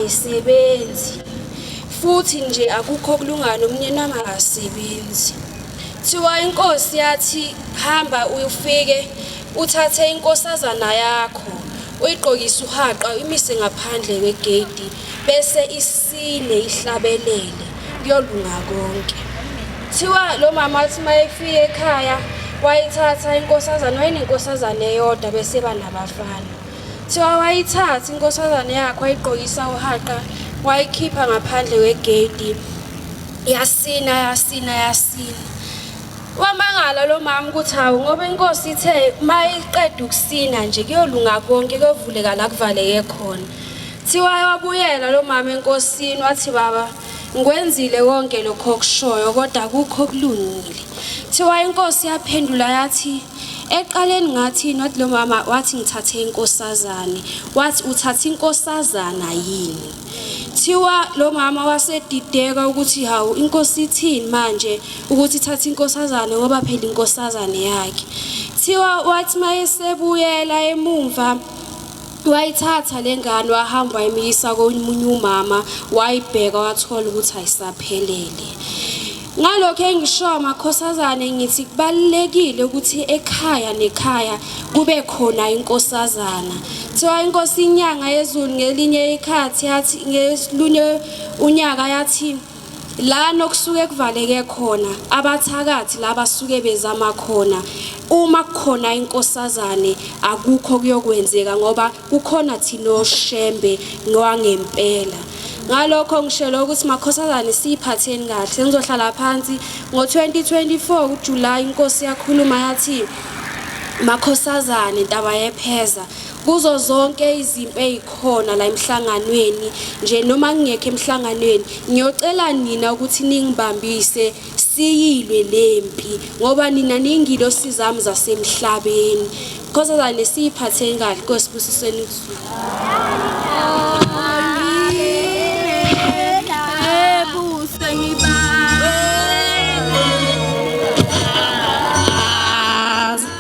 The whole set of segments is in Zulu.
ayisebenzi futhi nje akukho kulungana umnyeni wami akasebenzi thiwa inkosi yathi hamba uyufike uthathe inkosazana yakho uyigqokise uhaqa imise ngaphandle kwegedi bese isine ihlabelele kuyolunga konke thiwa lo mama athi mayefike ekhaya wayithatha inkosazana wayenenkosazana eyodwa bese banabafana Thiwa wayithatha inkosazane yakhe wayigqokisa uhaqa wayikhipha ngaphandle kwegedi yasina yasina yasina wamangala lo mama ukuthi hawu ngoba inkosi ithe uma iqeda ukusina nje kuyolunga konke kuyovuleka la kuvaleke khona thiwa wabuyela lo mama enkosini wathi baba ngikwenzile konke lokho okushoyo kodwa kukho okulungile thiwa inkosi yaphendula yathi Eqaleni ngathi not lo mama wathi ngithathe inkosazane. Wathi uthatha inkosazana yini? Thiwa lo mama wasedideka ukuthi hawu inkosi ithini manje ukuthi ithatha inkosazane ngoba phela inkosazane yakhe. Thiwa wathi mayesebuyela emumva Wayithatha le ngane wahamba wayimiyisa komunye umama wayibheka wathola ukuthi ayisaphelele. Ngalokho engishoyo makhosazane ngithi kubalulekile ukuthi ekhaya nekhaya kube khona inkosazana. Kuthiwa inkosi inyanga yezulu ngelinye ikhathi yathi ngesilunye unyaka yathi Lana okusuke kuvaleke khona abathakathi la basuke bezama khona uma kukhona inkosazane akukho kuyokwenzeka ngoba kukhona thina oshembe nowangempela ngalokho ngishelo ukuthi makhosazane siyiphatheni kahle ngizohlala phansi ngo-2024 kuJulayi inkosi yakhuluma yathi makhosazane ntaba yepheza Kuzo zonke izimpi ezikhona la emhlanganweni nje noma ngingekho emhlanganweni ngiyocela nina ukuthi ningibambise siyilwe lempi ngoba nina ningilo sizami zasemhlabeni khosazane siyiphatheni kahle kosibusisweni kuzulu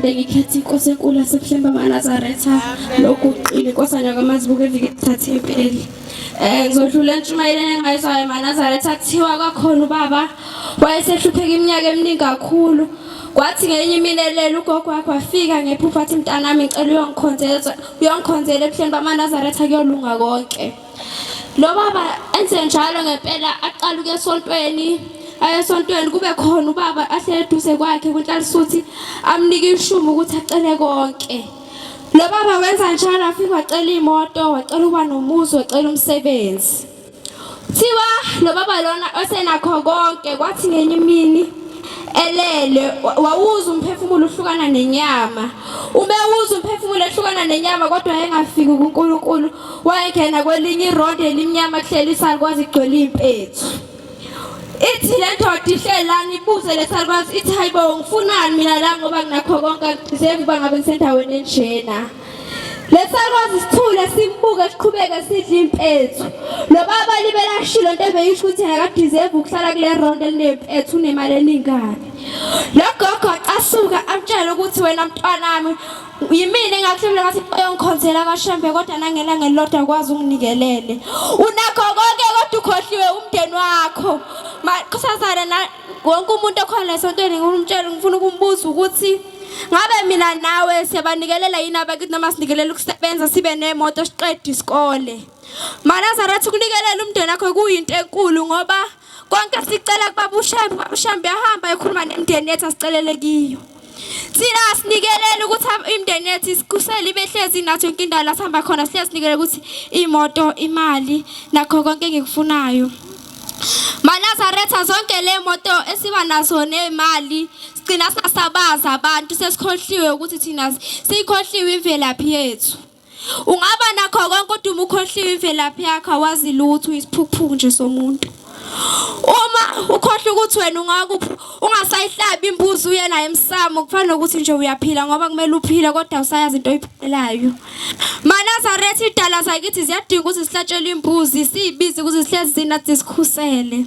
ngiphinde ngikhethe inkosi enkulu yasebuhlembe amanazaretha lokhu uqile inkosi anyakamazibuke evike kuthathe impeli um ngizodlula entshumayeleni engayizwayo emanazaretha kuthiwa kwakhona ubaba wayesehlupheka iminyaka eminingi kakhulu kwathi ngenye imini elele ugogo wakho wafika ngephupha athi mntanami ngicela uyongikhonzela uyongikhonzela ebuhleni bamanazaretha kuyolunga konke lo baba enze njalo ngempela aqala ukuya esontweni ayesontweni kube khona ubaba ahlele eduze kwakhe kunhlalisuthi amnike ishumu ukuthi acele konke lo baba wenza njalo afike wacela imoto wacela uba nomuzi wacela umsebenzi thiwa lo baba lona osenakho konke kwathi ngenye imini elele wawuza umphefumulo uhlukana nenyama ubewuza umphefumulo ehlukana nenyama kodwa engafiki kuNkulunkulu wayengena kwelinye irondi elimnyama kuhleli isalukwazi igcwele impethu ithi le ndoda ihlelani ibuze lesalukwazi ithi hayibo ngifunani mina la ngoba nginakho konke angigqize ukuba ngabe ngisendaweni enjena lesalukwazi isithule simbuke siqhubeke sidla impethu lo baba libelashilo into ebeyisho ukuthi yena kadeserve ukuhlala kule round elinempethu unemali eningani lo gogo asuka amtshele ukuthi wena mntwanami yimina engakuhlebela ngathi oyongikhonzela amashembe kodwa nangelanga elilodwa kwazi unginikelele unakho konke kodwa ukhohliwe umndeni wakho makhosazana na wonke umuntu okhona esontweni ngimtshela ngifuna ukumbuza ukuthi ngabe mina nawe siyabanikelela yini abakithi noma sinikelela ukusebenza sibe nemoto siqede isikole manazarathi ukunikelela umndeni wakho kuyinto enkulu ngoba konke sicela kubaba ushembe ubaba ushembe yahamba ekhuluma nemndeni yethu asicelele kiyo thina asinikelele ukuthi imndeni yethu isikusele ibehlezi nathi yonke indawo la sihamba khona sihlezi sinikele ukuthi imoto imali nakho konke engikufunayo manazaretha zonke le moto esiba nazo nemali sigcina sasabaza abantu sesikhohliwe ukuthi thina siyikhohliwe imvelaphi yethu Ungaba nakho konke kodwa uma ukhohliwe imvelaphi yakho awazi lutho isiphukuphuku nje somuntu. Uma ukhohlwa ukuthi wena ungakuphi ungasayihlabi imbuzi uye naye emsamo kufana nokuthi nje uyaphila ngoba kumele uphile kodwa usayazi into oyiphelayo. Manazaretha idala zakithi ziyadinga ukuthi sihlatshelwe imbuzi siyibize ukuthi sihlezi zinathi sikhusele.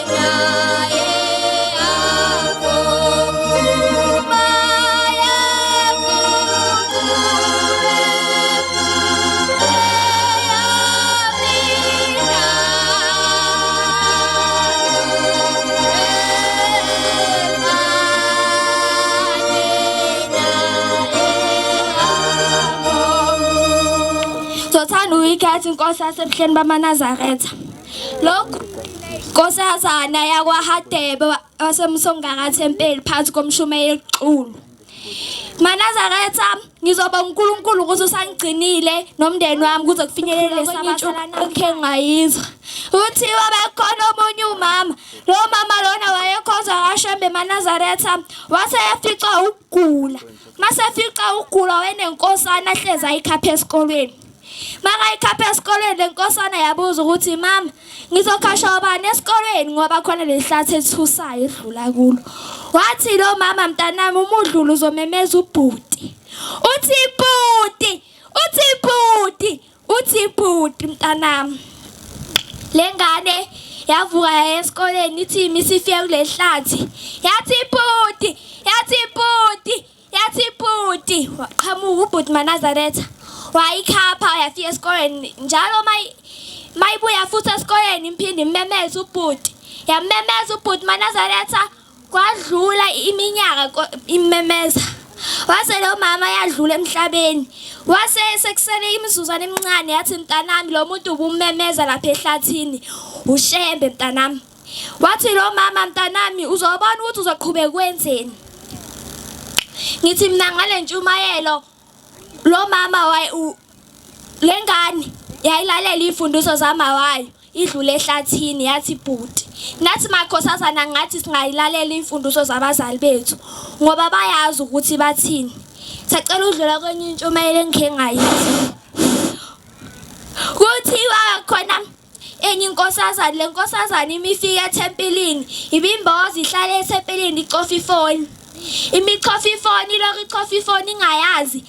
Thatha inkosi yasebuhleni bamanazaretha Lokhu nkosazana yakwaHadebe wasemsongakathempeli phansi komshumayeli Xulu. Manazaretha ngizoba uNkulunkulu ukuthi usangigcinile nomndeni wami kuze kufinyelele sabathalana akhe ngayizwa. Uthiwa bekhona omunye umama. Lo mama lona wayekhonza kaShembe Manazaretha wase efica ukugula. Mase efica ukugula wayenenkosana hleza ikhapha esikolweni. Makayikhapha esikoleni lenkosana yabuza ukuthi mama ngizokhasha obani esikoleni ngoba khona lelihlathi ethusayo edlula kulo. Wathi lo mama mntanami umudlulu uzomemeza ubhuti. Uthi bhuti, uthi bhuti, uthi bhuti mntanami. Lengane yavuka yaya esikoleni ithi imisifiye kulelihlathi. Yathi bhuti, yathi bhuti. yathi bhuti waqhamuka ubhuti manazaretha wayikhapha yafika esikoleni njalo mayibuya futhi esikoleni imphinde immemeza ubhuti yammemeza ubhuti manazaretha kwadlula iminyaka immemeza wase lo mama yadlula emhlabeni wase sekusele imizuzwana emincane yathi mntanami lo muntu ubummemeza lapha ehlathini ushembe mntanami Wathi lo mama mntanami uzobona ukuthi uzoqhubeka kwenzeni. Ngithi mina ngale ntshumayelo lo mama waye lengane yayilalela ifundiso zama wayo idlule ehlathini yathi bhuti nathi makhosazana ngathi singayilalela imfundiso zabazali bethu ngoba bayazi ukuthi bathini sacela udlula kwenye intshumayelo engikhe ngayithi kuthiwa khona enye inkosazane le nkosazane ima ifika ethempelini ibimboza ihlale ethempelini icofa ifoni imicofa ifoni ilokhu icofa ifoni ingayazi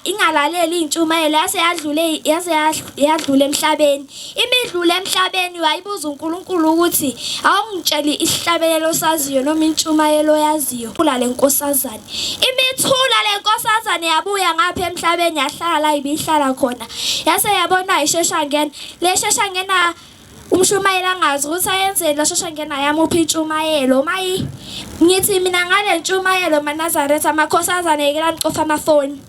ingalaleli intshumayelo yase yadlule yase yadlula emhlabeni imidlule emhlabeni wayibuza uNkulunkulu ukuthi awungitsheli isihlabelelo saziyo noma intshumayelo yaziyo kula lenkosazana Imithula le nkosazane yabuya ngapha emhlabeni yahlala ibihlala khona yase yabona ishesha ngena le shesha ngena umshumayeli angazi ukuthi ayenzeni lo shesha ngena yamuphi intshumayelo mayi ngithi mina ngale ntshumayelo manazaretha amakhosazane yekela nicofa amafoni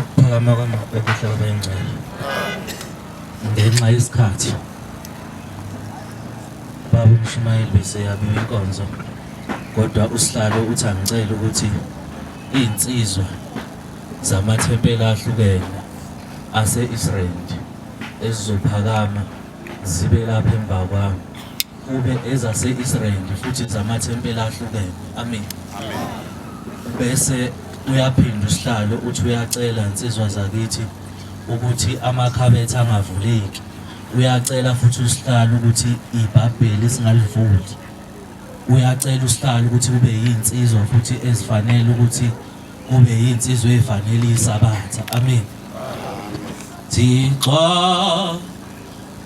ukuphakama kwamabhebesha kwengcwele ngenxa yesikhathi baba umshumayeli beseyabiwa inkonzo kodwa usihlalo uthi angicela ukuthi iy'nsizwa zamathempela ahlukene ase-israyeli ezizophakama zibe lapha emva kwami kube ezase-Israyeli futhi zamathempeli ahlukene amen bese uyaphinda usihlalo uthi uyacela insizwa zakithi ukuthi amakhabethe angavuleki uyacela futhi usihlalo ukuthi ibhabheli singalivuli uyacela usihlalo ukuthi kube yinsizwa futhi ezifanele ukuthi kube yinsizwa efanele isabatha amen thixo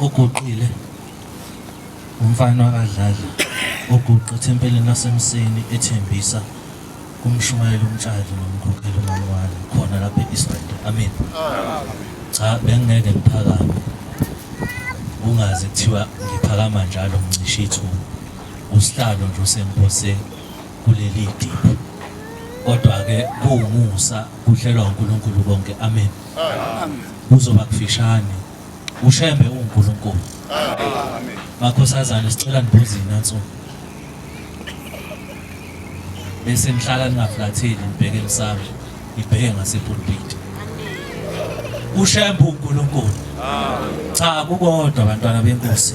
uguqile umfana wakadlali oguqe ethempelini lasemseni ethembisa kumshumayela umtshali nomkhokheli umamwala khona lapha e-israel amen cha bengingeke ngiphakame ungazi kuthiwa ngiphakama njalo ngicishe ithuba usihlalo nje usenkoseni kuleli dili kodwa-ke kuwumusa kuhlelwa uNkulunkulu konke amen kuzoba kufishane ushembe uNkulunkulu makhosazane sicela nibuzini nansuku bese nihlala ningaflatheli nibheke emsamo nibheke ngasepulpiti ushembe uNkulunkulu cha kukodwa abantwana benkosi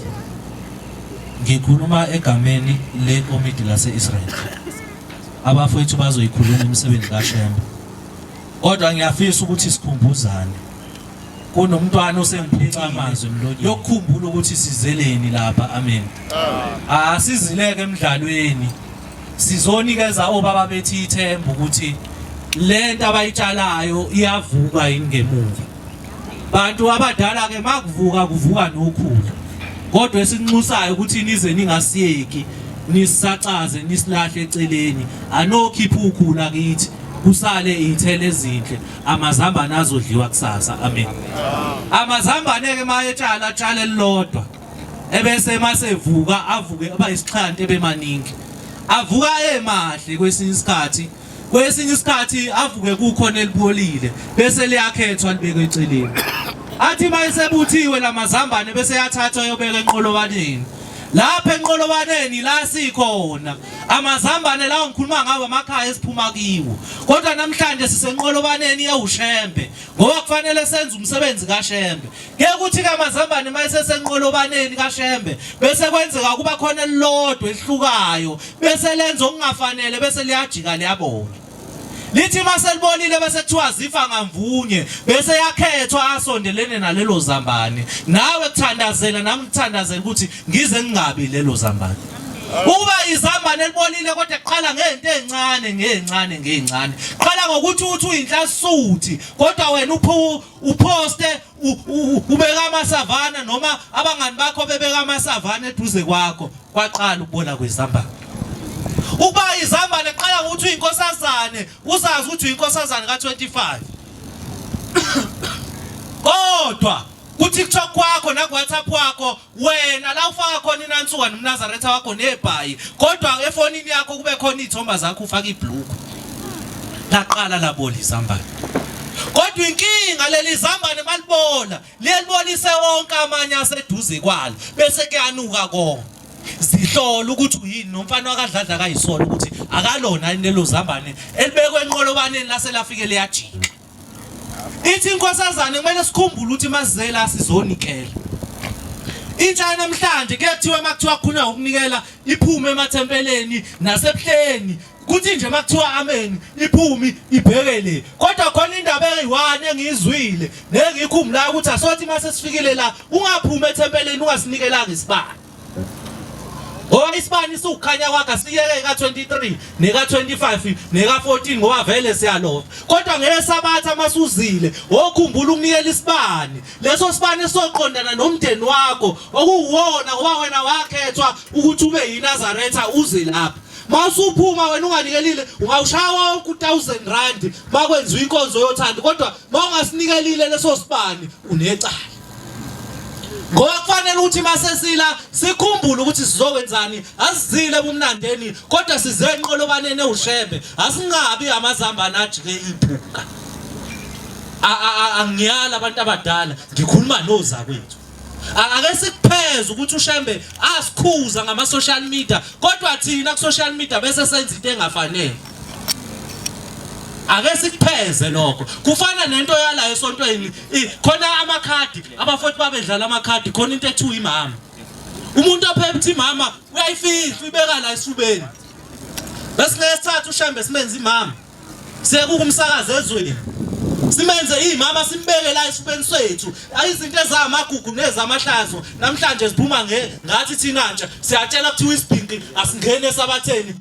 Ngikhuluma egameni lekomidi lase-Israel. Abafowethu bazoyikhuluma imisebenzi kaShembe. Kodwa ngiyafisa ukuthi sikhumbuzane. Kunomntwana osengiphica amazwi emlonyeni. Yokukhumbula ukuthi sizeleni lapha. Amen. Asizileke emidlalweni. Sizonikeza obaba bethi ithemba ukuthi lento abayitshalayo iyavuka yini ngemuva. bantu abadala ke makuvuka kuvuka nokhulu kodwa esinxusayo ukuthi nize ningasiyeki nisacaze nisilahle eceleni anokhipha ukhula kithi kusale iy'thelo ezinhle amazambane azodliwa kusasa amen amazambane-ke uma etshala atshale elilodwa ebese uma sevuka avuke aba yisixhanti ebemaningi avuka emahle kwesinye isikhathi kwesinye isikhathi avuke kukhona elibolile bese liyakhethwa libekwe eceleni athi uma esebuthiwe la mazambane bese yathathwa yobeka enqolobaneni lapha enqolobaneni la sikhona amazambane lawo ngikhuluma ngawo amakhaya esiphuma kiwo kodwa namhlanje sisenqolobaneni yewushembe ngoba kufanele senze umsebenzi kashembe Ngeke uthi kamazambane uma esesenqolobaneni kaShembe bese kwenzeka ukuba khona elilodwa elihlukayo bese lenza okungafanele bese liyajika liyabona. Lithi uma selibonile bese kuthiwa zifa ngamvunye bese yakhethwa asondelene nalelo zambane. Nawe kuthandazela nami ngithandazela ukuthi ngize ngingabi lelo zambane. Uba izambane elibonile kodwa qala ngento ezincane ngezincane ngezincane. Qala ngokuthi uthi uyinhlasisuthi kodwa wena uphu uphoste ubeka amasavana noma abangani bakho bebeka amasavana eduze kwakho kwaqala ukubola kwezambane ukuba izambane qala ukuthi uyinkosazane uzazi ukuthi uyinkosazane ka25 kodwa kuthi kuthiwa kwakho naku-whatsapp wakho wena la ufaka khona inansuka nomnazaretha wakho nebhayi kodwa efonini yakho kube khona iy'thomba zakho ufaka ibhluku laqala labola izambane kodwa inkinga leli zambane malibola liyelibolise wonke amanye aseduze kwalo bese kuyanuka konke zihlola ukuthi uyini nomfana wakadladla kayisola ukuthi akalona yini lelo zambane elibekwe enqolobaneni lase lafike liyajika ithi inkosazane kumele sikhumbule ukuthi mazizela asizonikela intsha yanamhlanje kuyathiwa uma kuthiwa khona ukunikela iphume emathempeleni nasebuhleni kuthi nje uma kuthiwa ameni iphumi ibheke le kodwa khona indaba eyi-one engiyizwile nengiyikhumbulayo ukuthi asothi uma sesifikile la ungaphumi ethempeleni ungasinikelanga isibani Ngoba isibani siwukhanya kwakhe asiyeke ka 23 neka 25 neka 14 ngoba vele siyalova. Kodwa ngeke sabatha masuzile wokhumbula ukunikela isibani. Leso sibani soqondana nomndeni wakho okuwona ngoba wena wakhethwa ukuthi ube yiNazaretha uze lapha. Mawusuphuma wena unganikelile ungawushaya wonke u1000 rand makwenziwa inkonzo yothando kodwa mawungasinikelile leso sibani unecala. ngoba kufanele ukuthi masesila sikhumbule ukuthi sizokwenzani asizile ebumnandeni kodwa size enqolobaneni ewushebe asingabi amazambane ajike iphunga angiyala abantu abadala ngikhuluma nozakwethu ake sikupheze ukuthi ushembe asikhuza ngama social media kodwa thina ku social media bese senza into engafanele ake sikupheze lokho kufana nento yala esontweni khona amakhadi abafowethu babedlala amakhadi khona into ethiwa imama umuntu ophepha imama uyayifihla uyibeka la esifubeni bese ngesithathu ushambe simenze imama sekukumsakaza ezweni simenze imama simbeke la esifubeni sethu izinto ezamagugu nezamahlazo namhlanje siphuma nge ngathi thina nje siyatshela kuthiwa isibhinqi asingene esabatheni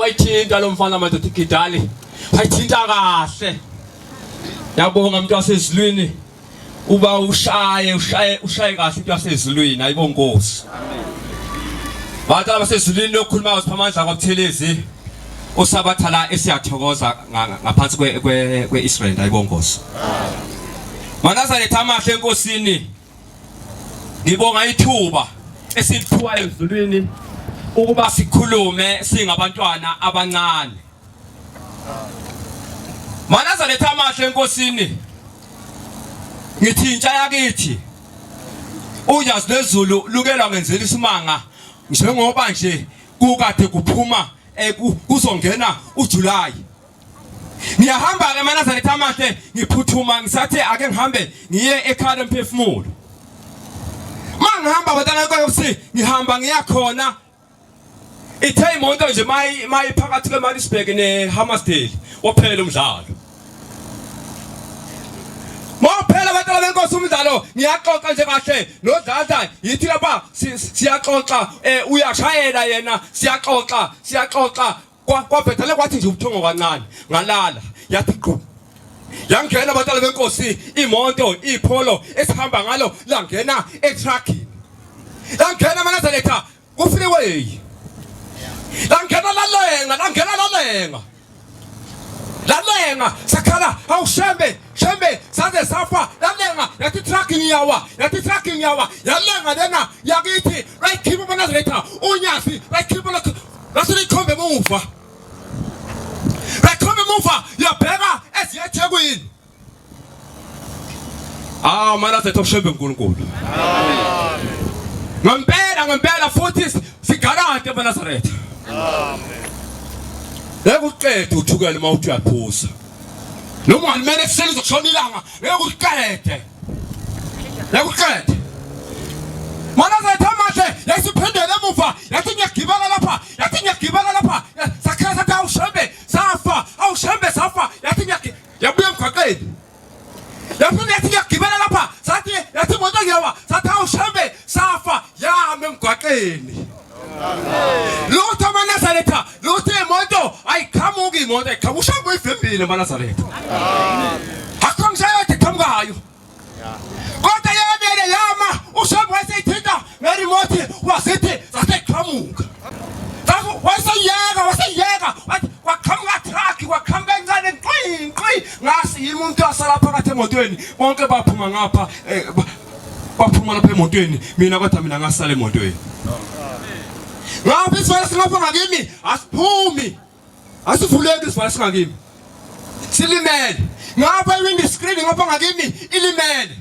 wayithinta lo mfana madoda igidali wayithinta kahle yabonga mntu wasezulwini uba ushaye ushaye ushaye kahle into yasezulwini ayibo nkosi bantu abasezulwini lokhuluma usipha amandla kwabuthelezi usabatha la esiyathokoza ngaphansi kwe-israyeli ayibo nkosi manazaretha amahle enkosini ngibonga ithuba esiliphiwa ezulwini ukuba sikhulume singabantwana abancane Manaza letha amahle enkosini. Ngithi intsha yakithi. Unyazi lezulu lukelwa ngenzela isimanga njengoba nje kukade kuphuma eh, kuzongena uJuly. Ngiyahamba ke manaza letha amahle ngiphuthuma ngisathe ake ngihambe ngiye ekhaya emphefumulo. Mangihamba batana kwayo ukuthi ngihamba ngiya khona Ithe imoto nje mayi mayi phakathi kweMaritzburg neHammarsdale waphela umdlalo. Maphela abantwana benkosi umdlalo ngiyaxoxa nje kahle nodlala yithi lapha siyaxoxa eh, uyashayela yena siyaxoxa siyaxoxa kwabhedale kwathi nje ubuthongo kancane ngalala yathi gqu yangena abatala benkosi imoto ipholo esihamba ngalo langena etruckini langena manazaletha kufreeway langena lalenga langena lalenga lalenga sakhala awushembe shembe saze safa lalenga yathi truck ngiyawa yathi truck ngiyawa yalenga lena yakithi right keep manazaletha unyasi right keep Ngase likhombe emuva. Lakhombe emuva yabheka eziya eThekwini. Ah, mana sethu oshembe uNkulunkulu. Amen. Ngempela ngempela futhi sigarante eNazaretha. Amen. Ekuqeda uthukela uma uthi uyaphuza. Noma ngimele kuseni uzoshona ilanga, ngeke uqede. yakuqeda mana zethu amahle yasiphindela emuva yathi ngiyagibela lapha yathi ngiyagibela lapha sakhala sathi awushembe safa awushembe safa yathi yabuya emgwaqeni yaphinde yathi ngiyagibela lapha sathi yathi imoto ngiyawa sathi awushembe safa yahamba emgwaqeni Lutho amaNazaretha, lutho imoto ayiqhamuki imoto ayiqhamuki ushaye kuyivimbile amaNazaretha. Akho ngishaye ukuthi qhamukayo. Kodwa yabele yama ushaye waseyithinta ngeremote wasithi saseqhamuka. Safu waseyeka waseyeka wathi kwaqhamuka truck kwaqhamuka encane qwi qwi ngasi yimi umuntu asala phakathi emotweni bonke baphuma ngapha eh, ba- baphuma lapha emotweni mina kodwa mina ngasala emotweni ngapha isivala singapha ngakimi asiphumi asivuleki isivala singakimi silimele ngapha iwindi screen ngapha ngakimi ilimele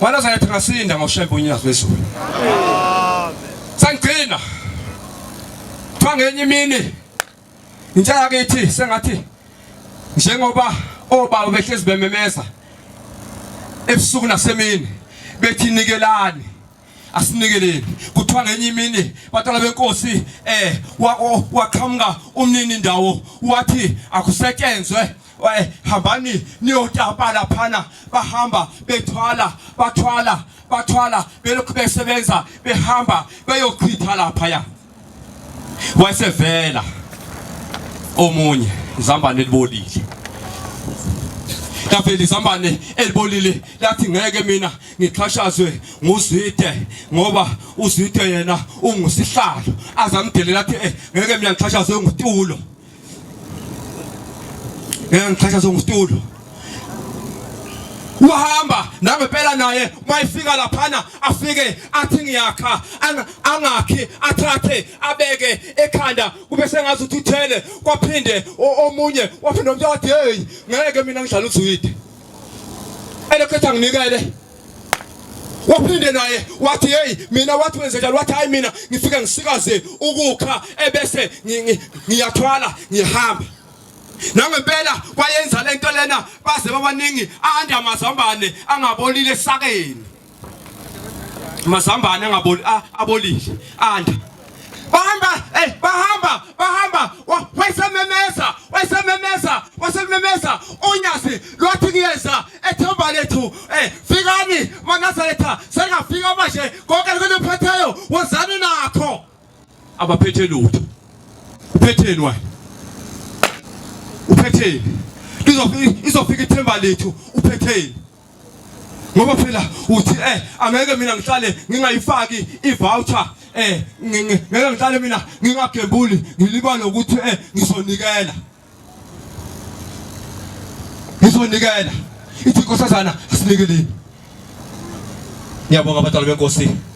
wala zayathi ngasinda ngoshembe unyazi wezulu sangigcina kuthiwa ngenye imini Intsha yakithi sengathi njengoba obaba behlezi bememeza ebusuku nasemini bethi nikelani asinikeleni kuthiwa ngenye imini batala benkosi eh waqhamuka umnini ndawo wathi akusetshenzwe eh, hambani niyotapa laphana bahamba bethwala bathwala bathwala belokhu besebenza behamba beyochitha laphaya Wasevela omunye izambane elibolile. Lavela izambane elibolile lathi ngeke mina ngixhashazwe nguzwide ngoba uzwide yena ungusihlalo azamdelela athi eh, ngeke mina ngixhashazwe ngutulo. ngeke ngichathazwe ngusitulo uhamba nangempela naye mayifika laphana afike athi ngiyakha angakhi athathe abeke ekhanda kube sengazi ukuthi uthele kwaphinde omunye waphinde omnye wathi hey ngeke mina ngidlala uzwide elokhetha nginikele waphinde naye wathi hey mina wathi wenze njalo wathi hayi mina ngifike ngisikaze ukukha ebese ngiyathwala ngihamba nangempela kwayenza lento lena baze babaningi ande amazambane angabolile esakeni mazambane angabolile abolile ande bahamba eh bahamba bahamba wasememeza wasememeza wasememeza unyasi lwathi kuyeza ethemba lethu eh fikani manazaretha sengafika manje konke lokuphetheyo wozani nakho abaphethe lutho uphetheni wena uphetheni izofika ithemba lethu uphetheni ngoba phela uthi eh angeke mina ngihlale ngingayifaki i-voucher eh ngeke ngihlale mina ngingagembuli ngilibale ukuthi eh ngizonikela ngizonikela ithi inkosazana asinikeleni ngiyabonga abadala benkosi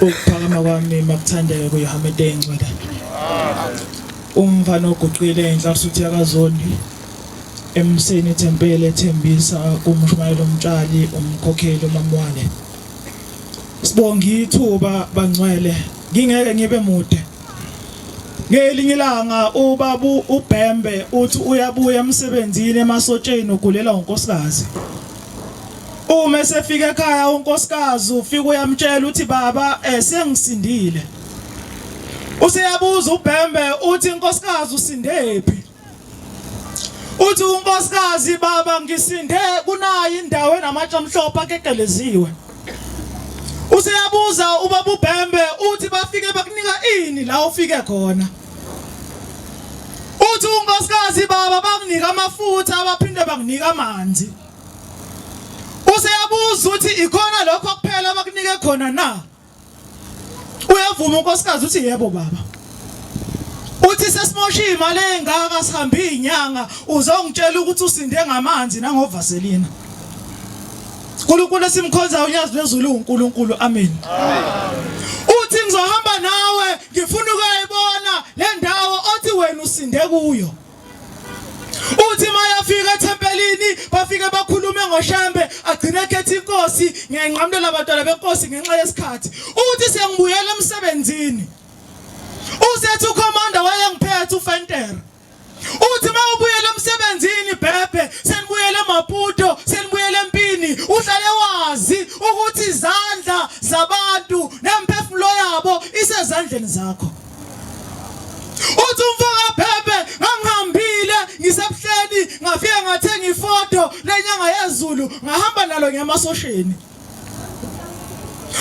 ukuphakama kwami makuthandeka kuyohameda engcwele umfana oguqile enhla usuthi yakazondi emseni ithempeli ethembisa kumshumayelo umtshali umkhokheli umamwane sibonga ithuba bangcwele ngingeke ngibe mude Ngelinye ilanga ubabu uBhembe uthi uyabuya emsebenzini emasotsheni ugulela unkosikazi. Uma esefika ekhaya unkosikazi ufika uyamtshela uthi baba eh sengisindile. Useyabuza uBhembe uthi inkosikazi usindephi? uthi unkosikazi baba ngisinde kunayi indawo enamatshe amhlophe akekeleziwe useyabuza ubaba ubhembe uthi bafike bakunika ini la ufike khona uthi unkosikazi baba bakunika amafutha abaphinde bakunika amanzi useyabuza uthi ikhona lokho kuphela abakunike khona na Uyavuma unkosikazi uthi yebo baba. Uthi sesimoshe imali engaka sihambe inyanga uzongitshela ukuthi usinde ngamanzi nangovaselina. uNkulunkulu esimkhonzayo uyazi lezulu uNkulunkulu amen uthi ngizohamba nawe ngifuna ukuyibona le ndawo othi wena usinde kuyo uthi mayafika ethempelini bafike bakhulume ngoshambe agcine ekhetha inkosi ngiyanqamulela abantwana benkosi ngenxa yesikhathi uthi sengibuyela emsebenzini usethi ukhomanda wayengiphethe ufentera uthi uma ubuyela emsebenzini bhebhe senibuyele emaputo senibuyele empini uhlale wazi ukuthi izandla zabantu nemphefumulo yabo isezandleni zakho uthi umfoka phephe ngangihambile ngisebuhleni ngafike ngathenga ifoto lenyanga yezulu ngahamba nalo ngemasosheni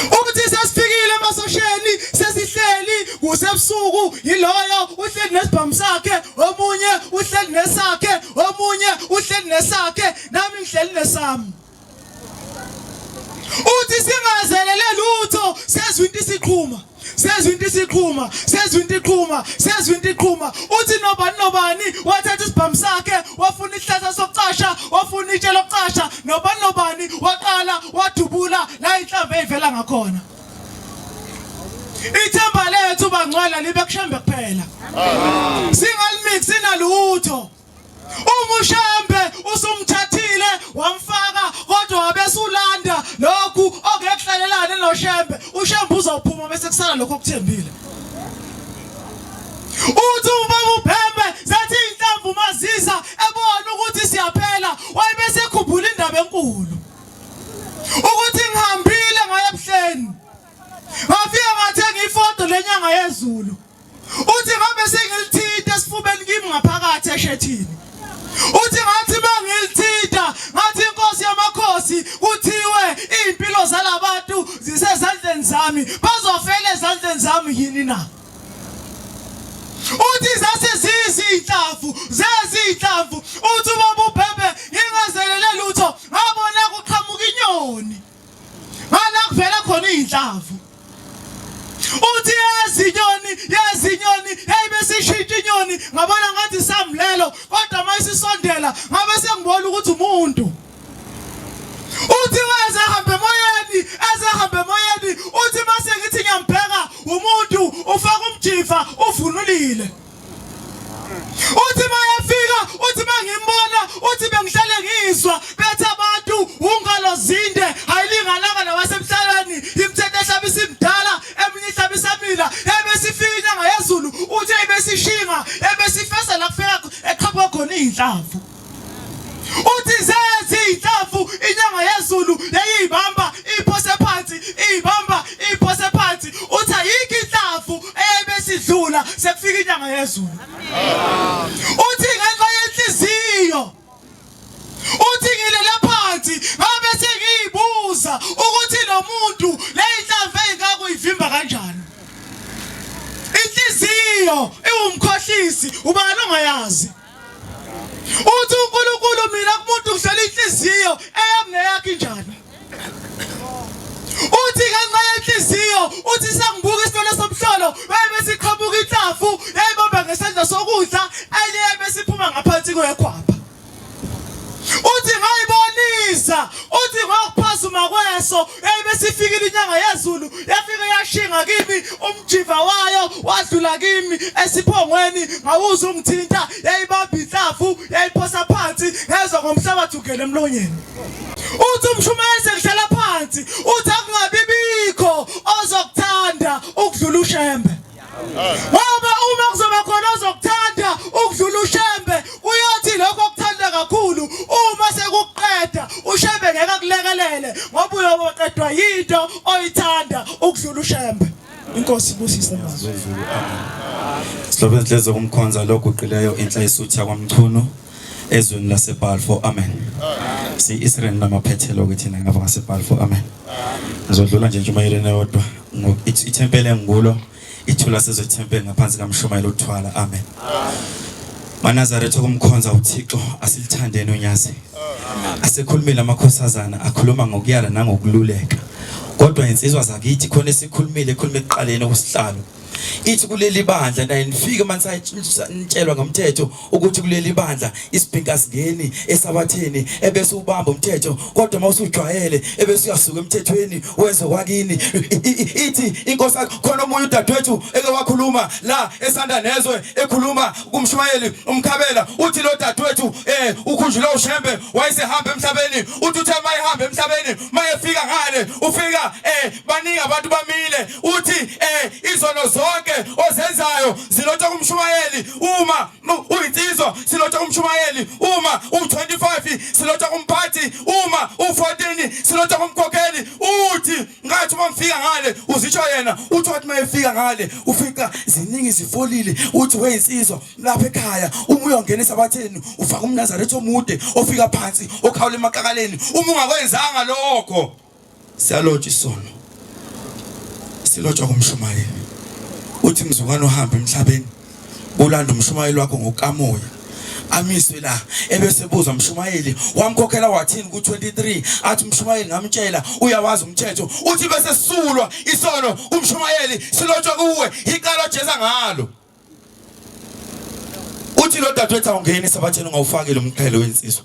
ukuthi sesifikile emasosheni sesihleli kusebusuku yiloyo uhleli nesibhamu sakhe omunye uhleli nesakhe omunye uhleli nesakhe nami ngihleli nesami uthi singazelele lutho sezwa into isiqhuma sezwa into isiqhuma sezwa into iqhuma sezwa into iqhuma uthi nobani nobani wathatha isibhamu sakhe wafuna isihlahla sokucasha wafuna itshe lokucasha nobani nobani waqala wadubula la inhlamba eyivela ngakhona ithemba lethu bangcwala libe kushembe kuphela singalimixi nalutho Umushembe usumthathile wamfaka kodwa wabesulanda lokhu okekuhlalelane noShembe. UShembe uzawuphuma bese kusala lokho okuthembile. Uthi ubaba uBhembe sethi inhlamvu mazisa ebona ukuthi siyaphela wayibe sekhumbula indaba enkulu. Ukuthi ngihambile ngaye ebuhleni. Ngafika ngathenga ifoto lenyanga yezulu. Uthi ngabe sengilithinta esifubeni kimi ngaphakathi eshethini. Uthi ngathi mangilithinta ngathi inkosi yamakhosi kuthiwe impilo zalabantu zisezandleni zami bazofela ezandleni zami yini na? Uthi zase zizinhlamvu zezinhlamvu uthi uma bubhebhe ngingazelele lutho ngabona kuqhamuka inyoni. ngala kuvela khona izinhlavu uthi yezinyoni yezinyoni hey besishintsha inyoni ngabona ngathi samlelo kodwa mayisisondela ngabe sengibona ukuthi umuntu uthi waze hambe emoyeni eze hambe emoyeni uthi mase ngithi ngiyambheka umuntu ufaka umjiva uvunulile uthi mayefika uthi mangimbona uthi bengihlale ngizwa bethi abantu ungalo zinde ayilingananga nawasemhlabeni imthetho ehlaba isimdala eminye ihlaba isamila ebesifika inyanga yezulu uthi ebesishinga ebesifesa la kufika eqhaphwa khona izinhlamvu uthi seziyinhlamvu inyanga yezulu yayiyibamba iphose phansi iyibamba iphose phansi uthi ayikho inhlamvu eyayibesidlula sekufika inyanga yezulu uthi ngenxa yenhliziyo uthi ngilele phansi ngabe sengiyibuza ukuthi lo muntu leyinhlamvu eyingaka uyivimba kanjani inhliziyo iwumkhohlisi ubani ongayazi uthi uNkulunkulu mina kumuntu ngihlela inhliziyo eyami neyakhe injalo uthi ngenxa yenhliziyo uthi sangibuka isitolo somhlolo bebe siqhamuka inhlafu yayibamba ngesandla sokudla enye yebe siphuma ngaphansi kwekhwapha uthi ngayibonisa uthi ngokuphazuma kweso Hey besifikile inyanga yezulu yafika yashinga kimi umjiva wayo wadlula kimi esiphongweni ngawuza ungithinta yayibamba inhlavu yayiphosa phansi ngezwa ngomhlabathi ugele emlonyeni uthi umshumayeli sekuhlala phansi uthi akungabibikho ozokuthanda ukudlula ushembe ngoba uma kuzoba khona ozokuthanda ukudlula ushembe uyothi lokho okuthanda kakhulu uma sekuqeda ushembe ngeke akulekelele ngoba uyoboqedwa yinto oyithanda ukudlula ushembe inkosi ibusise mazwi silobe inhliziyo kumkhonza loguqileyo inhla isutha kwamchunu ezweni laseBalfour amen si-Israel namaphethelo-ke thina ngapha ngaseBalfour amen ngizodlula nje ntshumayeleni eyodwa ithempeli engikulo ithula sizwe ithempeli ngaphansi kamshumayeli uthwala amen manazaretha okumkhonza uthixo asilithandeni unyazi asekhulumile amakhosazana akhuluma ngokuyala nangokululeka kodwa insizwa zakithi khona esikhulumile ekhuluma ekuqaleni okusihlalo ithi kuleli bandla naye nifike manje nitshelwa ngomthetho ukuthi kuleli bandla isibhinka singeni esabatheni ebese ubamba umthetho kodwa uma usujwayele ebese uyasuka emthethweni wenze kwakini ithi inkosi khona omunye udadewethu eke wakhuluma la esanda nezwe ekhuluma kumshumayeli umkhabela uthi lo dadewethu eh ukhunjula ushembe wayesehamba emhlabeni uthi uthe mayihambe emhlabeni mayefika ngale ufika eh baningi abantu bamile uthi eh izono zonke ozenzayo zilotha kumshumayeli uma uyinsizwa silotha kumshumayeli uma u25 silotha kumphathi uma u14 silotha kumkhokheli uthi ngathi uma ngifika ngale uzisho yena uthi wathi uma efika ngale ufica ziningi zifolile uthi weyinsizwa lapha ekhaya uma uyongena esabatheni ufaka umnazaretha omude ofika phansi okhawula emaqakaleni uma ungakwenzanga lokho Siyalotsha isono. Silotshwa kumshumayeli. Uthi mzukwana uhamba emhlabeni ulanda umshumayeli wakho ngokamoya amiswe la ebese buza mshumayeli wamkhokhela wathini ku23 athi mshumayeli ngamtshela uyawazi umthetho uthi bese sisulwa isono kumshumayeli silotshwa kuwe iqala Jesu ngalo uthi lo dadwethu awungeni sabatheni ngawufakile umqhele wensizwa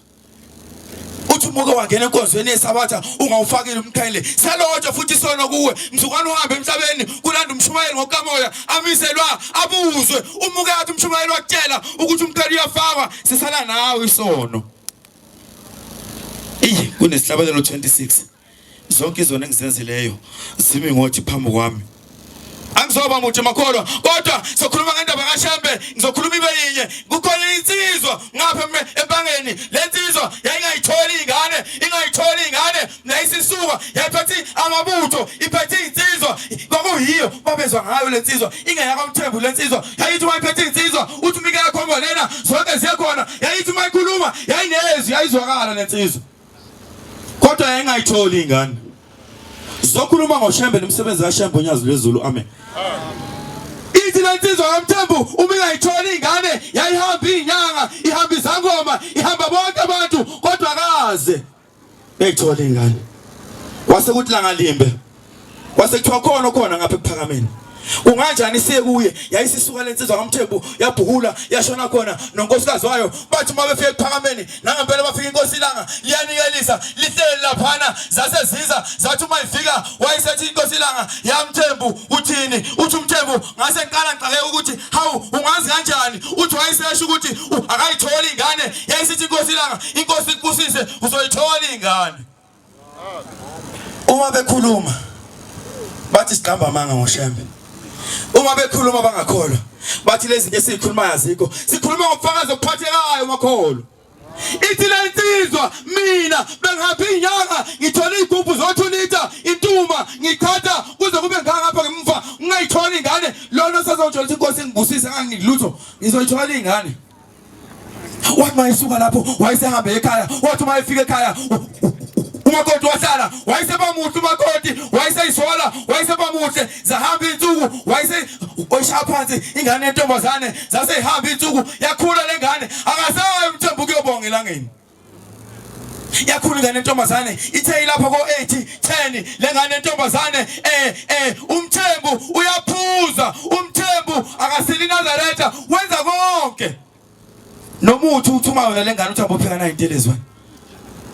uthi umuke wangena enkonzweni yesabatha ungawufakile umqhele selonje futhi isono kuwe mzukwane uhambe emhlabeni kulanda umshumayeli ngokukamoya amiselwa abuzwe umuke yathi umshumayeli wakutshela ukuthi umqhele uyafakwa sisala nawe isono iyi kunesihlabelelo 26 zonke izona engizenzileyo zimi ngothi phambi kwami angizoba muthi makholwa kodwa sokhuluma ngendaba kaShembe ngizokhuluma ibe yinye kukhona insizwa ngapha ebangeni lensizwa yayingayitholi ingane ingayitholi ingane nayisisuka yaphethe amabutho iphethe insizwa kwakuyiyo babezwa ngayo lensizwa ingeyaka umthembu lensizwa yayithi mayiphethe insizwa uthi umike yakho ngolena zonke ziyakhona yayithi mayikhuluma yayinezwi yayizwakala lensizwa kodwa yayingayitholi ingane sizokhuluma ngoshembe nomsebenzi kashembe onyazi lwezulu amen ithi le nsizwa kamthembu uma ingayitholi ingane yayihamba iyinyanga ihamba izangoma ihamba bonke abantu kodwa kaze yayithola ingane wase kuthi langalimbe kwase kuthiwa khona okhona ngapha ekuphakameni kunganjani siye kuye yayisisuka lensizwa kamthembu yabhuhula yashona khona nonkosikazi wayo bathi uma befika ekuphakameni nangempela bafika inkosi ilanga liyanikelisa lihleli laphana zase ziza zathi uma ifika wayisethi inkosi ilanga yamthembu uthini uthi umthembu ngase ngiqala ngixake ukuthi hawu ungazi kanjani uthi wayisesho ukuthi akayitholi ingane yayisithi inkosi ilanga inkosi ikubusise uzoyithola ingane uma bekhuluma bathi siqamba amanga ngoshembe uma bekhuluma bangakholwa bathi lezi zinto esizikhulumayo azikho sikhuluma ngobufakazi obuphathekayo makholo ithi le nsizwa mina bengihambe inyanga ngithola iy'gubhu zo-two lita intuma ngichatha kuze kube ngangapha ngemva ngingayitholi ingane lona sazongithola ukuthi inkosi ingibusise nganginilutho ngizoyithola iy'ngane wathi mayesuka lapho wayesehambe ekhaya wathi uma efika ekhaya umakoti wahlala wayesebamuhle umakoti wayeseyisola wayesebamuhle zahamba iy'nsuku wayese oyishaya phansi ingane yentombazane zaseyihamba iy'nsuku yakhula le ngane akasayo umthembu kuyobonga elangeni yakhulu ingane entombazane ithe ilapho ko-80 10 le ngane entombazane eh eh umthembu uyaphuza umthembu akasili nazaretha wenza konke nomuthi uthuma yona le ngane uthi abophika nayo intelezwa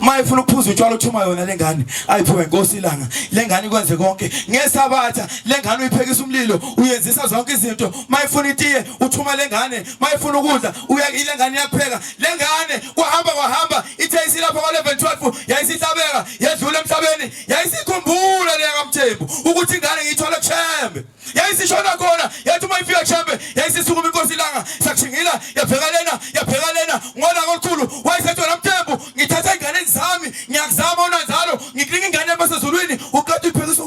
uma ifuna ukuphuza utshwala uthuma yona le ngane ayiphume nkosi ilanga le ngane ikwenze konke ngesabatha le ngane uyiphekisa umlilo uyenzisa zonke izinto uma ifuna itiye uthuma le ngane uma ifuna ukudla ile ngane iyakupheka Le ngane kwahamba kwahamba ithe isilapha kwa-11 12 yayisihlabeka yedlula emhlabeni yayisikhumbula leya kamthembu ukuthi ingane ngiyithole kushembe yayisishona khona yathi uma ifika kushembe yayisisukuma inkosi ilanga sakushingila yabheka lena yabheka lena ngona kolukhulu wayesethi wena mthembu ngithatha ey'nganeni zami ngiyakuzama unanzalo ngikunika ingane yabasezulwini uqeda uyibhekisa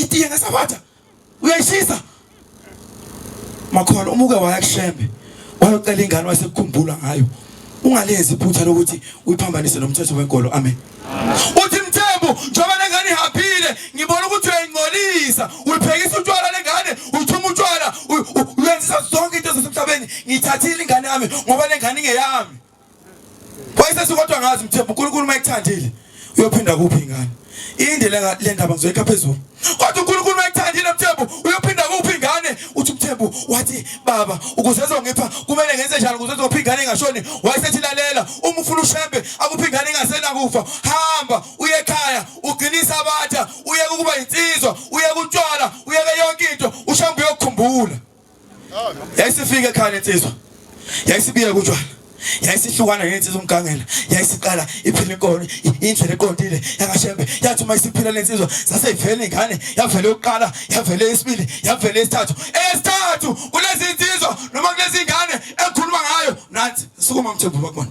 itiye ngesabatha uyayishisa makhona umuke waya kushembe wayocela ingane wasekukhumbula ngayo ungalenzi iphutha lokuthi uyiphambanise nomthetho wenkolo amen uthi mthembu njengoba lengane ihapile ngibona ukuthi uyayingcolisa uyiphekisa utshwala lengane uyithuma utshwala uyenzisa zonke into zasemhlabeni ngiyithathile ingane yami ngoba lengane ingeyami Wayesesi kodwa ngazi mthembu uNkulunkulu uma ekuthandile uyophinda kuphi ingane. Inde le ndaba ngizoyikha phezulu. Kodwa uNkulunkulu uma ekuthandile mthembu uyophinda kuphi ingane. Uthi mthembu wathi baba ukuze ezongipha kumele ngenze njalo ukuze ezophi ingane ingashoni. Wayesethi lalela uma ufuna ushembe akuphi ingane ingasena kufa. Hamba uye ekhaya ugcinisa abatha uye ukuba insizwa uye kutshwala uye yonke into ushembe uyokukhumbula. yayisifika ekhaya insizwa yayisibiye kutshwala yayisihlukana nensizwa umgangela yayisiqala iphila inkolo indlela eqondile yakashembe yathi uma isiphila lensizwa saseyivele ingane yavele yokuqala yavele isibili yavele isithathu esithathu kulezi nsizwa noma kulezi ngane ekhuluma ngayo nansi sukuma mthembu bakubona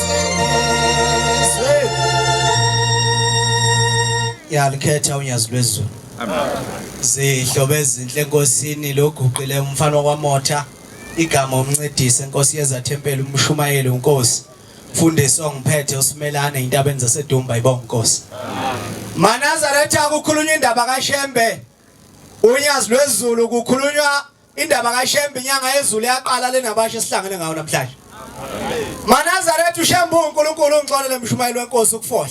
yalikhetha unyazi lwezulu zihlobo ezinhle enkosini loguqile umfana wakwamotha igama umncedisi enkosi yeza thempeli umshumayeli unkosi mfundisi ongiphethe usimelane intabeni zasedumba ibonga inkosi manazaretha kukhulunywa indaba kashembe unyazi lwezulu kukhulunywa Indaba kaShembe inyanga yezulu yaqala lena bashe sihlangene ngawo namhlanje. Manazaretha uShembe uNkulunkulu ungixolele mshumayeli wenkosi ukufohla.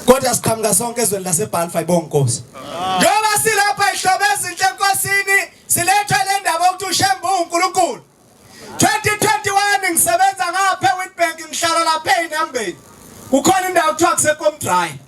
Kodwa siqhamuka sonke ezweni laseBalfa ibonga inkosi. Njengoba silapha ihlobeza inhle enkosini silethwe le ndaba ukuthi uShembe uNkulunkulu. 2021 ngisebenza ngapha eWitbank ngihlala lapha eNambeni kukhona indawo kuthiwa kuseKomdry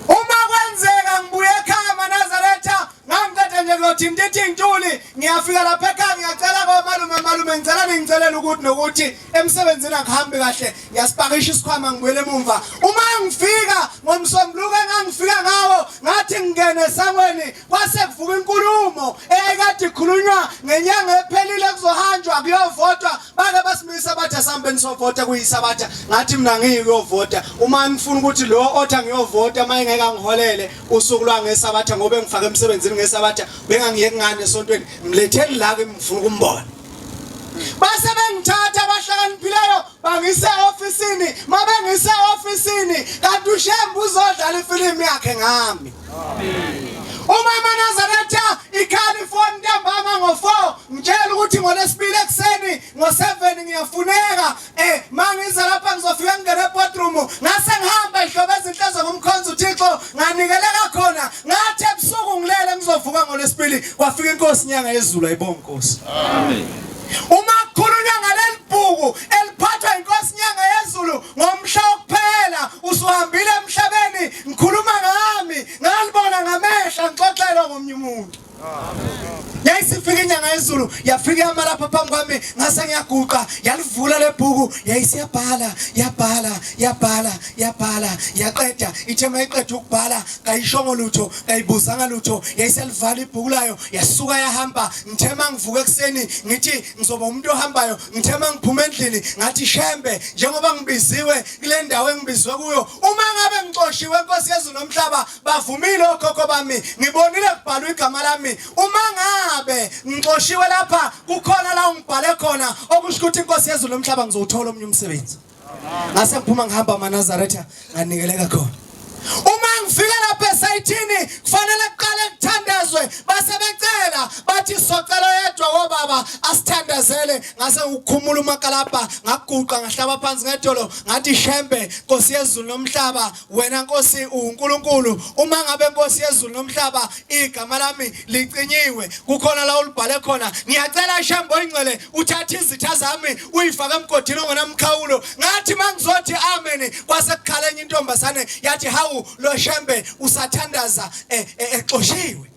uma kwenzeka ngibuye ekhaya maNazaretha ngangiqede nje kuyothi ndithi ntuli ngiyafika lapha ekhaya ngiyacela komalume malume ngicela ningicelela ukuthi nokuthi emsebenzini akuhambi kahle ngiyasipakisha isikhwama ngibuyele emumva uma ngifika ngomsombuluko engangifika ngawo ngathi ngingene esangweni kwase kuvuka inkulumo eyayikade ikhulunywa ngenyanga ephelile kuzohanjwa kuyovotwa bake basimisa bathi asihambeni sovota kuyisabatha ngathi mina ngiyi kuyovota uma ngifuna ukuthi lo othi angiyovota uma engeke angiholele usuku lwangesabatha ngoba engifake emsebenzini ngesabatha bengangiyeki ngane esontweni mletheni la ke ngifuna ukumbona base bengithatha abahlakaniphileyo bangise ofisini mabengise ofisini kanti ushembu uzodlala ifilimu yakhe ngami uma manazaretha ikhalifornia ntambama ngo-four ngitshela ukuthi ngolesibili ekuseni ngo-seven ngiyafuneka um mangize lapha ngizofika ngingene ebodroom ngase ngihamba ihlobo ezinhlezo ngomkhonza uthixo nganikeleka khona ngathi ebusuku ngilele ngizovuka ngolesibili kwafika inkosi inyanga yezulu ayibonga inkosi amen Uma kukhulunywa ngaleli bhuku eliphathwa inkosi Nyanga yezulu ngomhla wokuphela usuhambile emhlabeni ngikhuluma ngami ngalibona ngamehla ngixoxelwa ngomnye umuntu. yayisifika inyanga yezulu yafika yama lapha phambi kwami ngase ngiyaguqa yalivula lebhuku yayisiyabhala yabhala yabhala yabhala yaqeda ithe mayiqeda ukubhala kayishongo lutho kayibuzanga lutho yayiselivala ibhuku layo yasuka yahamba ngithe uma ngivuka ekuseni ngithi ngizoba umuntu ohambayo ngithe uma ngiphuma endlini ngathi shembe njengoba ngibiziwe kule ndawo engibizwe kuyo uma ngabe ngixoshiwe nkosi yezulu nomhlaba bavumile okhokho bami ngibonile kubhalwa igama lami uma ngabe ngixoshiwe lapha kukhona la ungibhale khona okusho ukuthi inkosi yezulu nomhlaba ngizowuthola omunye umsebenzi ngase ngiphuma ngihamba amanazaretha nganikeleka khona uma ngifika lapha esayithini kufanele kuqale kuthandazwe base becela bathi socela yedwa wobaba asithandazele ngase ngikhumula umakalabha ngaguqa ngahlaba phansi ngedolo ngathi shembe nkosi yezulu nomhlaba wena nkosi uNkulunkulu uma ngabe nkosi yezulu nomhlaba igama lami licinyiwe kukhona la ulibhale khona ngiyacela ishambo ingcwele uthathe izitha zami uyifake emgodini ongenamkhawulo ngathi mangizothi amen kwase kukhala enye intombazane yathi hawu lo shembe usathandaza eh, eh, exoshiwe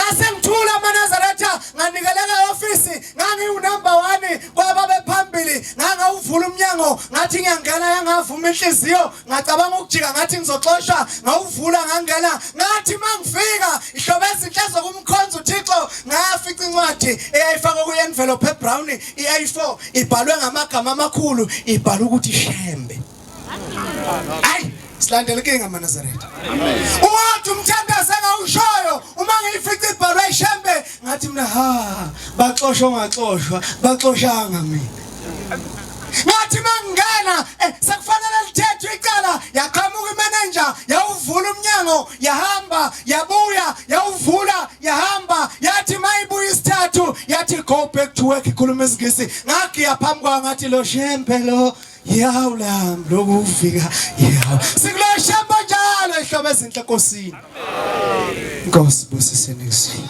Ngasengithula amaNazaretha nganikeleka ofisi ngangiwunumber one kwababephambili ngangawuvula umnyango ngathi ngiyangena yangavuma inhliziyo ngacabanga ukujika ngathi ngizoxoshwa ngawuvula ngangena ngathi mangifika ihlobo ezinhle zokumkhonza uThixo ngafica incwadi eyayifakwe kuyenvelope ebrown i-A4 ibhalwe ngamagama amakhulu ibhala ukuthi Shembe hayi silandela inkinga manazaretha uwathi umthandazi engawushoyo uma ngiyifica ibhalwe ishembe ngathi mina ha baxoshwa ongaxoshwa baxoshanga mina ngathi mangena eh, sekufanele lithethwe icala yaqhamuka imenenja yawuvula umnyango yahamba yabuya yawuvula yahamba yathi mayibuya isithathu yathi go back to work ikhuluma isingisi ngagiya phambi kwayo ngathi lo shembe lo Yawu lam lokhu ufika yawu. Sikulo shamba njalo ehlobo ezinhle enkosini. Inkosi busise nizini.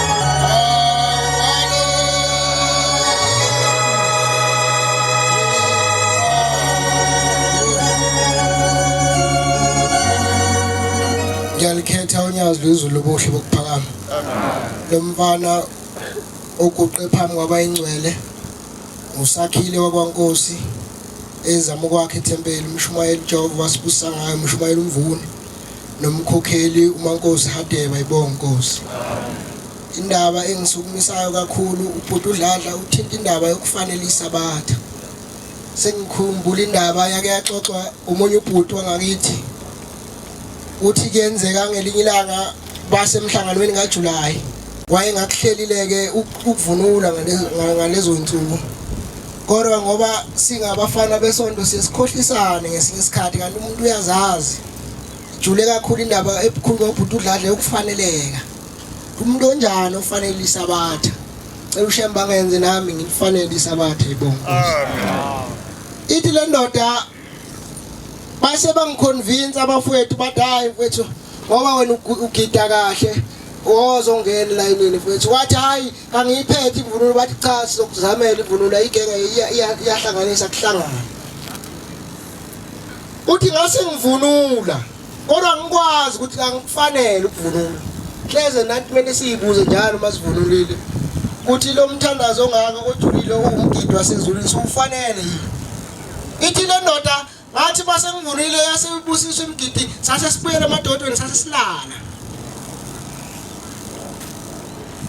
ngiyalikhetha unyazi lwezulu lobuhle bokuphakama lo mfana oguqe phambi kwabayingcwele usakhile wakwankosi ezama ukwakha ithempeli umshumayeli jehova wasibusa ngayo umshumayeli umvuni nomkhokheli uMankosi Hadebe ayibonge Nkosi indaba engisukumisayo kakhulu ubhuti uDladla uthinta indaba yokufanele isabatha sengikhumbula indaba yake yaxoxwa umunye ubhuti wangakithi uthi kuyenzeka ngelinye ilanga basemhlanganweni kaJuly wayengakuhlelile ke ukuvunula ngalezo nsuku kodwa ngoba singabafana besonto sesikhohlisane ngesinye isikhathi kanti umuntu uyazazi jule kakhulu indaba ebukhulu kobhuti udladla yokufaneleka umuntu onjani ofanele isabatha cela ushemba ngenze nami ngifanele isabatha ibongo ithi le ndoda base bangiconvince abafowethu bathi hayi mfethu ngoba wena ugida kahle ozongena elayinini mfethu wathi hayi kangiyiphethi imvunulo bathi cha sizokuzamela imvunulo ayigenge iyahlanganisa kuhlangana uthi ngase ngivunula kodwa ngikwazi ukuthi angikufanele ukuvunula hleze nathi kumele siyibuze njalo uma sivunulile ukuthi lo mthandazo ongaka ojulile uwumgidi wasezulwini siwufanele yini ithi le ndoda Ngathi base ngivulile yase ibusisa imgidi sase sibuyele emadodweni sase silala.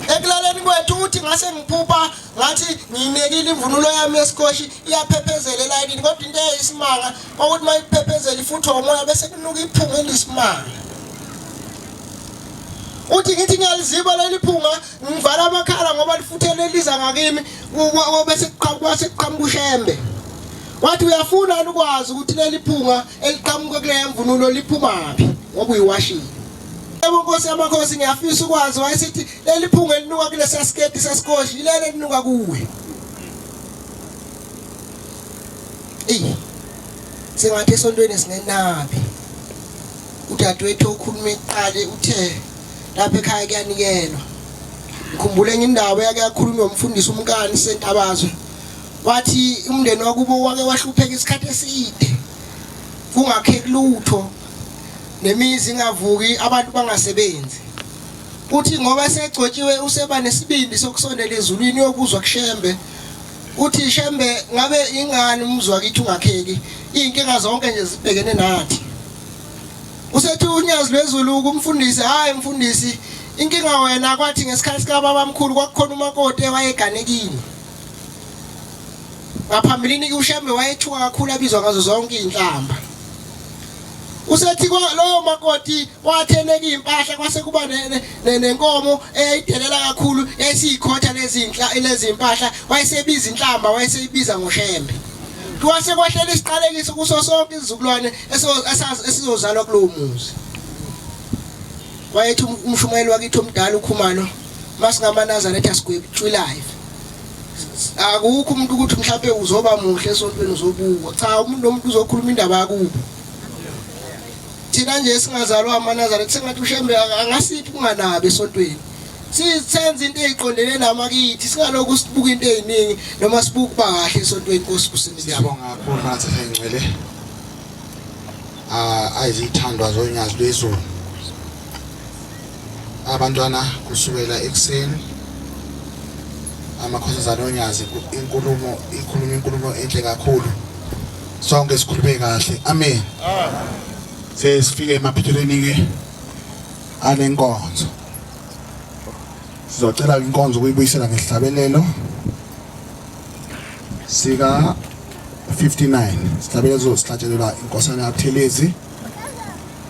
Ekulaleni kwethu uthi ngase ngiphupha ngathi nginekile imvunulo yami esikoshi iyaphephezela elayini kodwa into eyisimanga ukuthi mayiphephezela ifuthi umoya bese kunuka iphunga elisimanga. uthi ngithi ngiyaliziba leli phunga ngivala amakhala ngoba lifuthele liza ngakimi bese kuqhamuka ushembe Wathi uyafuna yini ukwazi ukuthi leli phunga eliqhamuka kuleya mvunulo liphumaphi ngoba uyiwashile. Yebo Nkosi yamakhosi ngiyafisa ukwazi wayesithi leli phunga elinuka kulesa sketi sasikoshi yilelo elinuka kuwe. Ey. Sengathi esontweni sinenabi. Udadewethu okhuluma iqale uthe lapha ekhaya kuyanikelwa. Ngikhumbule enye indawo yake yakhulunywa umfundisi umkani sentabazwe. wathi umndeni wakubo wake wahlupheka isikhathi eside kungakheki lutho nemizi ingavuki abantu bangasebenzi uthi ngoba esegcotshiwe useba nesibindi sokusondela ezulwini yokuzwa kushembe uthi shembe ngabe ingani umzwa kithi ungakheki izinkinga zonke nje zibhekene nathi usethi unyazi lwezulu kumfundisi hayi mfundisi inkinga wena kwathi ngesikhathi sikababamkhulu kwakukhona umakoti ewayeganekile Ngaphambilini uShembe wayethuka kakhulu abizwa ngazo zonke izinhlamba. Usethi lowo makoti watheneka impahla kwase kuba nenkomo eyayidelela kakhulu esiyikhotha lezinhla lezimpahla wayesebiza inhlamba wayeseyibiza ngoShembe. Kwase kwahlela isiqalekiso kuso sonke izizukulwane esizozalwa kulowo muzi. Wayethi umshumayeli wakithi omdala ukhumalo masingamanazaretha sigwebutshwilayo. akukho umuntu ukuthi mhlawumbe uzoba muhle esontweni uzobukwa cha umuntu nomuntu uzokhuluma indaba yakubo thina nje singazalwa amanazare kusengathi ushembe angasiphi kunganabi esontweni sisenza into eziqondene namakithi singalokhu sibuka into eziningi noma sibuka bahle esontweni inkosi kusini siyabonga kakhulu manje sengcwele ah ayizithandwa zonyazi lwezulu abantwana kusukela ekuseni amakhosazana onyazi inkulumo ikhuluma inkulumo enhle kakhulu sonke sikhulume kahle amen sesifike emaphithelweni ke anenkonzo sizocela inkonzo ukuyibuyisela ngesihlabelelo sika 59 sihlabelelo sihlatshelelwa inkosana yabuthelezi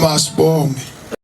Masbonge.